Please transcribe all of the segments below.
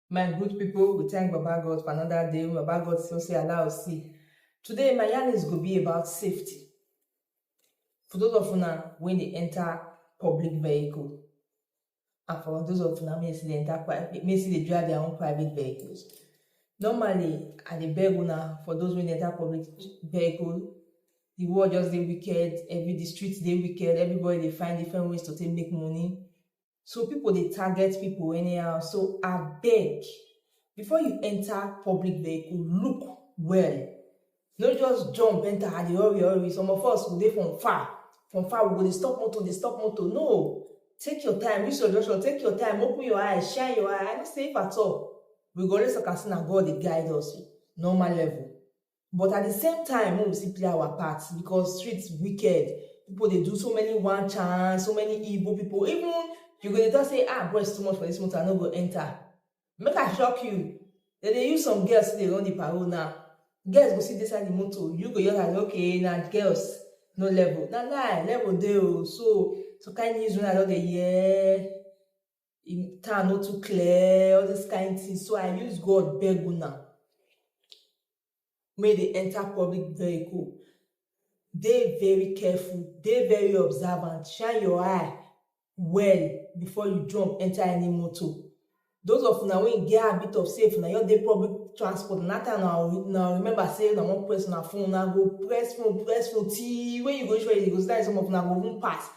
my good people we thank baba god for another day baba god still say allow us see today my yarn is go be about safety for those of una when they enter public vehicle and for those of una make still dey enter private make still dey drive their own private vehicles normally i dey beg una for those wey dey enter public vehicle the world just dey wicked every the street dey wicked everybody dey find different ways to take make money so people dey target people anyhow so abeg before you enter public vehicle look well no just jump enter i dey hurry hurry some of us we dey from far from far we go dey stop motor dey stop motor no take your time reach your junction take your time open your eye shine your eye i know say if at all we go raise okasi na god dey guide us normal level but at the same time make we still play our part because street wicked people dey do so many one chance so many evil people even you go dey talk say ah boys too much for this motor i no go enter make i shock you dem dey use some girls dey run the parole now girls go sit inside the motor you go just like okay na girls no level na lie level dey o so some kind news wey i don dey hear in town no too clear all this kind thing so i use god beg una wey dey enter public vehicle dey very careful dey very observant shine your eye well before you jump enter any motor those of una wey get habit of sey if una just dey public transport na that time una go una go remember sey una wan press una phone una go press phone press phone till wey you go reach where you dey go sometimes some of una go even pass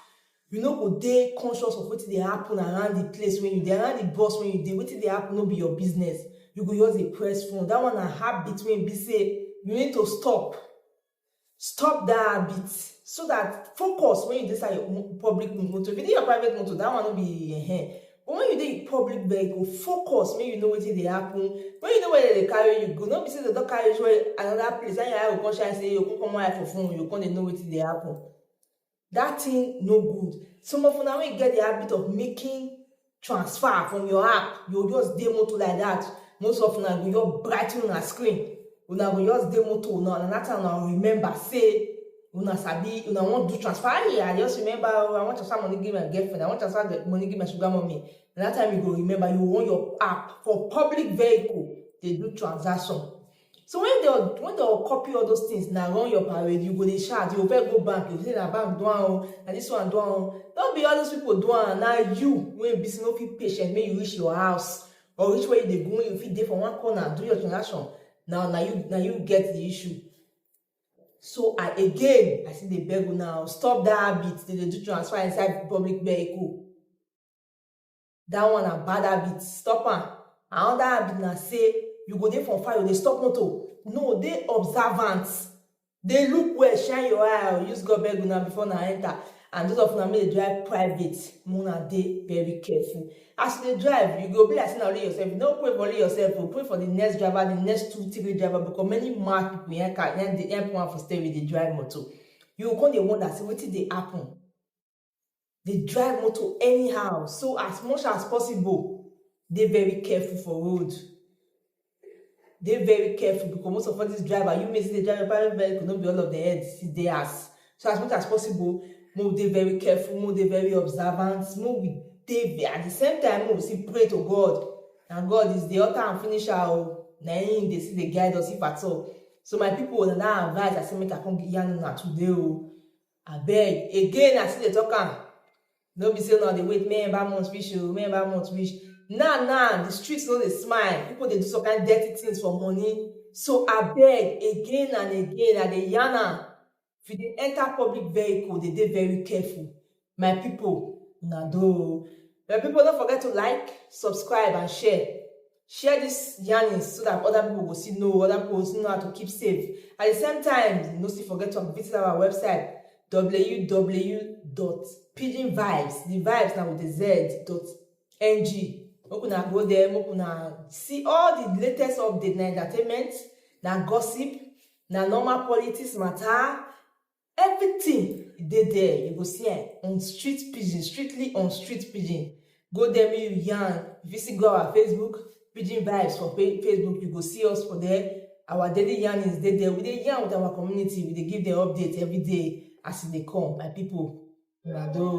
You no go dey conscious of wetin dey happen around the place wey you dey, around the bus wey you dey, wetin dey happen no be your business, you go just dey press phone. Dat one na habit wey e be sey you need to stop. Stop dat habit so dat focus when you dey inside your public motor. If you dey your private motor, dat one no be ehen. But when you dey in public vehicle, focus make you know wetin dey happen. When you know where dem dey carry you go, no be sey dem don carry you reach where another place, na im your eye go come shine sey you go come comot eye for phone, you go come dey know wetin dey happen. That thing no good. Some of una wey get the habit of making transfer from your app, you go just dey motor like that. Most of una go just bright una screen. Una go just dey motor una and that time una remember say una sabi una wan do transfer. Ayi, I just remember oh, I wan transfer money give my girlfriend. I wan transfer the money give my sugar mommy. Na that time you go remember you on your app for public vehicle dey do transaction. So when they when they copy all those things, now run your parade, you go dey shout, you go go bank, you go say na bank do am, na this one do am. Don't be all those people do am, na you when be no fit patient, make you reach your house or reach where you dey go, you fit dey for one corner, do your transaction. Now now you now you get the issue. So I again, I see the beg now, stop that habit, they dey do transfer inside public vehicle. that one na bad habit stop am another habit na say you go dey for fire you dey stop motor no dey observant dey look well shine your eye or use god beg una before una enter and those of una make dey drive private make una dey very careful as you dey drive you go be like say na only yourself you no pray for only yourself o pray for the next driver the next two three driver because many mad people yan car yan dey yan put am for steering dey drive motor you go come dey wonder say wetin dey happen dey drive motor anyhow so as much as possible dey very careful for road dey very careful because most of all these driver you may see dey drive your private vehicle no be all of the head still dey house so as much as possible make we dey very careful make we dey very observant make we dey ve- at the same time make we still pray to God na God is the author and finisher o na him dey still dey guide us if at all so my people na that advice I say make I come yarn una today o Abeg again I still dey talk am no be say una dey wait make ember month reach oo make ember month reach now now the street no dey smile people dey do some kind dirty things for money so abeg again and again I dey yarn am if you dey enter public vehicle dey dey very careful my people una do oo my people no forget to like subscribe and share share this yarnings so that other people go still know, other people go still know how to keep safe. At the same time, no still forget to visit our website www.pidginvibes, the vibes now with the z dot ng. Make una go there, make una see all the latest update na entertainment, na gossip, na normal politics matter, Everything dey there you go see am on street pidgin strictly on street pidgin go there make you yarn you fit still go our Facebook pidgin vibes for Facebook you go see us for there our daily yarnings dey there we dey yarn with our community we dey give them update every day as e dey come my people una do.